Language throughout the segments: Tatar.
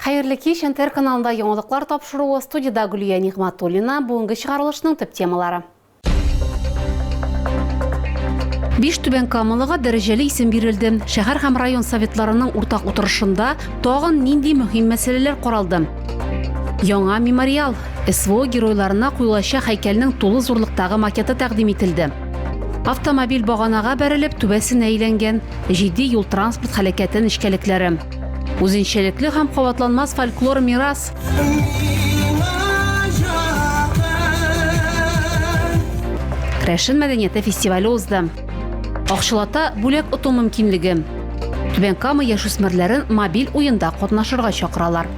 Хәерле кич, НТР каналында яңалыклар тапшыруы, студида Гөлия Нигматуллина, бүгенге чыгарылышның төп темалары. Биш Түбән Камалыга дәрәҗәле исем бирелде. Шәһәр һәм район советларының уртак утырышында тагын нинди мөһим мәсьәләләр каралды? Яңа мемориал, СВО геройларына куелачак һәйкәлнең тулы зурлыктагы макеты тәкъдим ителде. Автомобиль баганага бәрелеп, түбәсенә әйләнгән, җитди юл-транспорт һәлакәте нечкәлекләре. Үзенчәлекле һәм кабатланмас фольклор мирас. Рәшен мәдәнияте фестивале узды. Акчалата бүләк оту мөмкинлеге. Түбән Кама яшүсмерләрен мобиль уенда катнашырга чакыралар.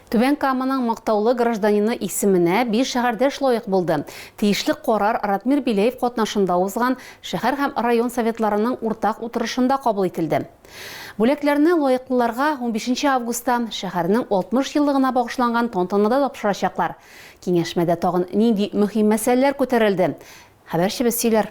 Түбән Каманың мактаулы гражданины исеменә биш шәһәрдәш лаек булды. Тиешле карар Ратмир Беляев катнашында узган шәһәр һәм район Советларының уртак утырышында кабул ителде. Бүләкләрне лаеклыларга унбишенче августта шәһәрнең 60 еллыгына багышланган тантанада тапшырачаклар. Киңәшмәдә тагын нинди мөһим мәсьәләләр күтәрелде? Хәбәрчебез сөйләр.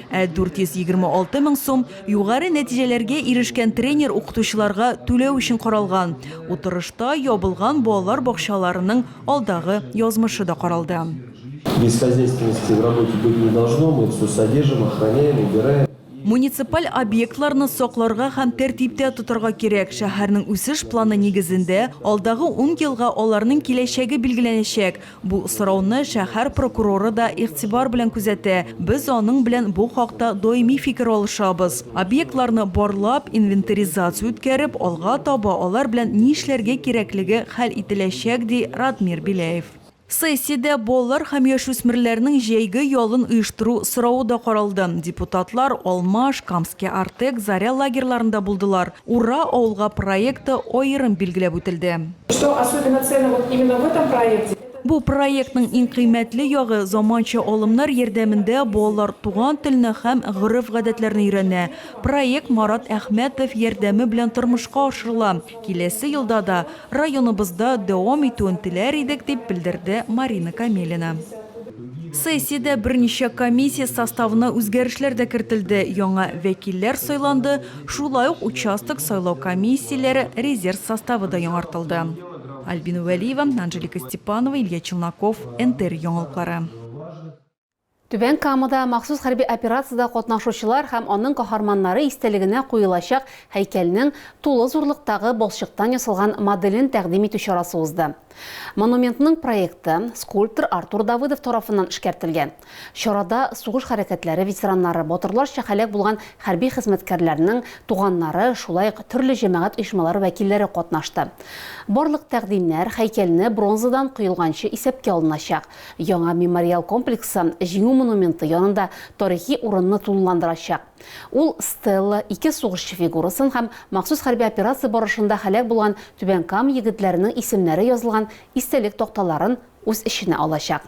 Ә 426 мең сум югары нәтиҗәләргә ирешкән тренер-укытучыларга түләү өчен каралган. Утырышта ябылган балалар бакчаларының алдагы язмышы да каралды. Бесхозяйственности в работе быть не должно, мы все содержим, охраняем, убираем. Муниципаль объектларны сакларга һәм тәртиптә тотарга кирәк. Шәһәрнең үсеш планы нигезендә, алдагы ун елга аларның киләчәге билгеләнәчәк. Бу сорауны шәһәр прокуроры да игътибар белән күзәтә, без аның белән бу хакта даими фикер алышабыз. Объектларны барлап, инвентаризация үткәреп, алга таба алар белән ни эшләргә кирәклеге хәл ителәчәк, ди Радмир Беляев. Сессиядә балалар һәм яшүсмерләрнең җәйге ялын оештыру соравы да каралды. Депутатлар Алмаш, Камский Артек, Заря лагерьларында булдылар. Ура ауылга проекты аерым билгеләп үтелде. Что особенно ценно вот именно в этом проекте, это. Бу проектның иң кыйммәтле ягы, заманча алымнар ярдәмендә балалар туган телне һәм гореф-гадәтләрне өйрәнә. Проект Марат Әхмәтов ярдәме белән тормышка ашырыла. Киләсе елда да районыбызда дәвам итүен теләр идек, дип белдерде Марина Камелина. Сессиядә берничә комиссия составына үзгәрешләр дә кертелде, яңа вәкилләр сайланды, шулай ук участок сайлау комиссияләре резерв составы да яңартылды. Альбина Вәлиева, Анжелика Степанова, Илья Челноков, НТР яңалыклары. Түбән Камада махсус хәрби операциядә катнашучылар һәм аның каһарманнары истәлегенә куелачак һәйкәлнең тулы зурлыктагы балчыктан ясалган моделен тәкъдим итү чарасы узды. Монументның проекты скульптор Артур Давыдов тарафыннан эшкәртелгән. Чарада сугыш хәрәкәтләре ветераннары, батырларча һәлак булган хәрби хезмәткәрләрнең туганнары, шулай ук төрле җәмәгать оешмалары вәкилләре катнашты. Барлык тәкъдимнәр һәйкәлне бронзадан коелганчы исәпкә алыначак. Яңа мемориал комплексы Җиңү монументы янында тарихи урынны тулыландырачак. Ул стела, ике сугышчы фигурасын һәм махсус хәрби операция барышында һәлак булган Түбән Кама егетләренең исемнәре язылган истәлек такталарын үз эченә алачак.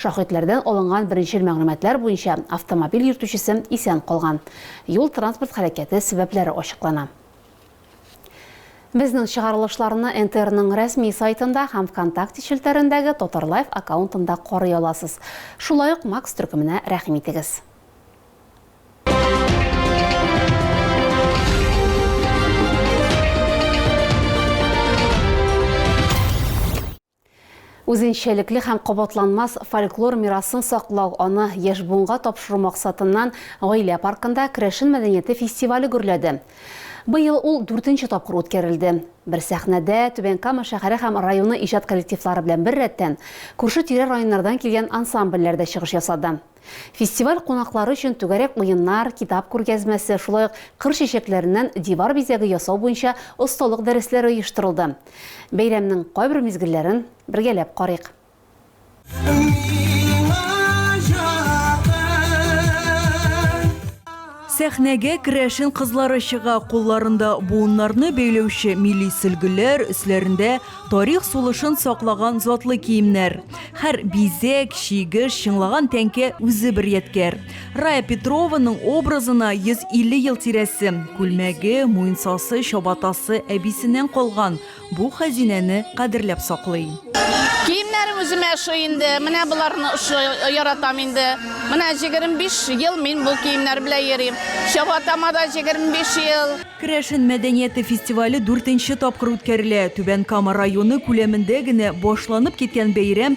Шаһитләрдән алынган беренчел мәгълүматлар буенча, автомобиль йөртүчесе исән калган. Юл-транспорт һәлакәте сәбәпләре ачыклана. Безнең чыгарылышларны НТРның рәсми сайтында һәм ВКонтакте челтәрендәге Татарлайф аккаунтында карый аласыз. Шулай ук Макс төркеменә рәхим итегез. Үзенчәлекле һәм кабатланмас фольклор мирасын саклау, аны яшь буынга тапшыру максатыннан Гаилә паркында Керәшен мәдәнияте фестивале гөрләде. Быел ул дүртенче тапкыр үткәрелде. Бер сәхнәдә Түбән Кама шәһәре һәм районы иҗат коллективлары белән беррәттән, күрше-тирә районнардан килгән ансамбльләр дә чыгыш ясады. Фестиваль кунаклары өчен түгәрәк уеннар, китап күргәзмәсе, шулай ук кыр чәчәкләреннән дивар бизәге ясау буенча осталык дәресләре оештырылды. Бәйрәмнең кайбер мизгелләрен бергәләп карыйк. Миңа якын. Сәхнәгә керәшен кызлары чыга, кулларында буыннарны бәйләүче милли сөлгеләр, өсләрендә тарих сулышын саклаган затлы киемнәр. Һәр бизәк, чигеш, чыңлаган тәңкә үзе бер ядкәр. Рая Петрованың образына 150 ел тирәсе. Күлмәге, муенсасы, чабатасы әбисеннән калган. Бу хәзинәне кадерләп саклый. Киемнәрем үземә ошый инде. Менә боларны ошый, яратам инде. Менә 25 ел мин бу киемнәр белән йөрим. Чабатама да 25 ел. Керәшен мәдәнияте фестивале дүртенче тапкыр үткәрелә. Түбән Кама районы күләмендә генә башланып киткән бәйрәм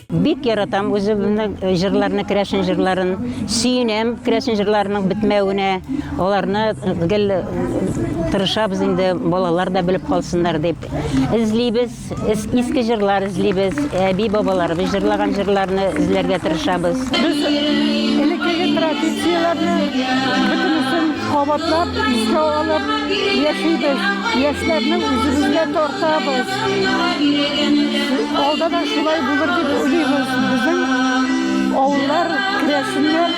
Бик яратам үземне җырларны, керәшен җырларын. Сөенәм керәшен җырларының бетмәвенә. Аларны гел тырышабыз инде, балалар да белеп калсыннар дип. Эзлибез, иске җырлар эзлибез, әби бабаларыбыз җырлаган җырларны эзләргә тырышабыз. Без элеккеге традицияләрне бөтенесен кабатлап, искә алып яшибез. Яшьләрне үзебезгә тартабыз. Алда да шулай булыр дип уйлыйбыз. Безнең авыллар, керәшеннәр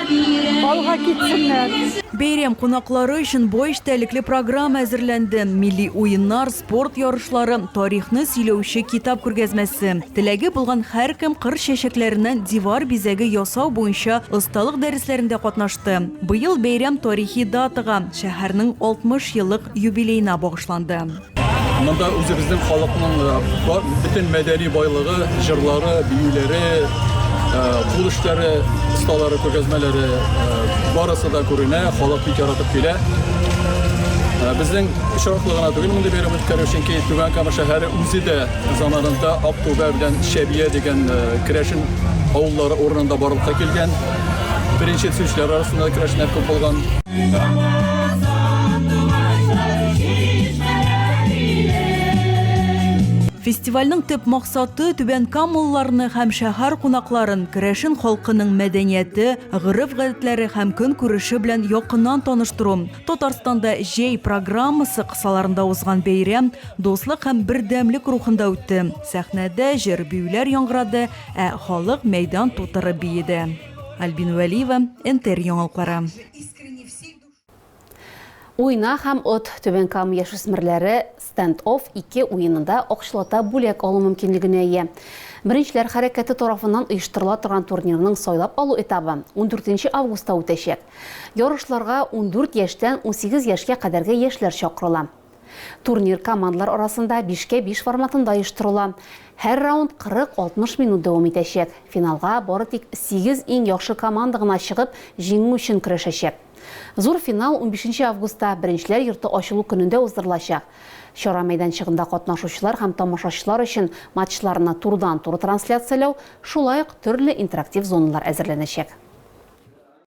алга китсеннәр. Бәйрәм кунаклары өчен бай эчтәлекле программа әзерләнде, милли уеннар, спорт ярышлары, тарихны сөйләүче китап күргәзмәсе. Теләге булган һәркем кыр чәчәкләреннән дивар бизәге ясау буенча осталык дәресләрендә катнашты. Быел бәйрәм тарихи датага, шәһәрнең 60 еллык юбилеена багышланды. Монда үзебезнең халыкның э, бөтен мәдәни байлыгы, җырлары, биюләре, э, кул эшләре, осталары, күргәзмәләре э, барысы да күренә, халык бик яратып килә. Э, безнең очраклы гына түгел мондый бәйрәм үткәрү, чөнки Түбән Кама шәһәре үзе дә заманында Актүбә белән Шәбия дигән э, керәшен авыллары урынында барлыкка килгән. Беренче төшүчеләр арасында көрәшнәр күп булган. Фестивальнең төп максаты түбән камылларны һәм шәһәр кунакларын керәшен халкының мәдәнияте, гореф-гадәтләре һәм көн күреше белән якыннан таныштыру. Татарстанда җәй программасы кысаларында узган бәйрәм дуслык һәм бердәмлек рухында үтте. Сәхнәдә җыр-биюләр яңгырады, Ә халык мәйдан тутырып биеде. Альбина Вәлиева, НТР яңалыклары. Уйна һәм от! Түбән Кама яшүсмерләре Stand-Off 2 уенында акчалата бүләк алу мөмкинлегенә ия. Беренчеләр хәрәкәте тарафыннан оештырыла торган турнирның сайлап алу этабы 14 августта үтәчәк. Ярышларга 14 яшьтән 18 яшькә кадәрге яшьләр чакырыла. Турнир командалар арасында бишкә биш форматында оештырыла. Һәр раунд 40-60 минут дәвам итәчәк. Финалга бары тик сигез иң яхшы команда гына чыгып, җиңү өчен көрәшәчәк. Зур финал унбишенче августта, Беренчеләр йорты ачылу көнендә уздырылачак. Чара мәйданчыгында катнашучылар һәм тамашачылар өчен матчларны турыдан-туры трансляцияләү, шулай ук төрле интерактив зоналар әзерләнәчәк.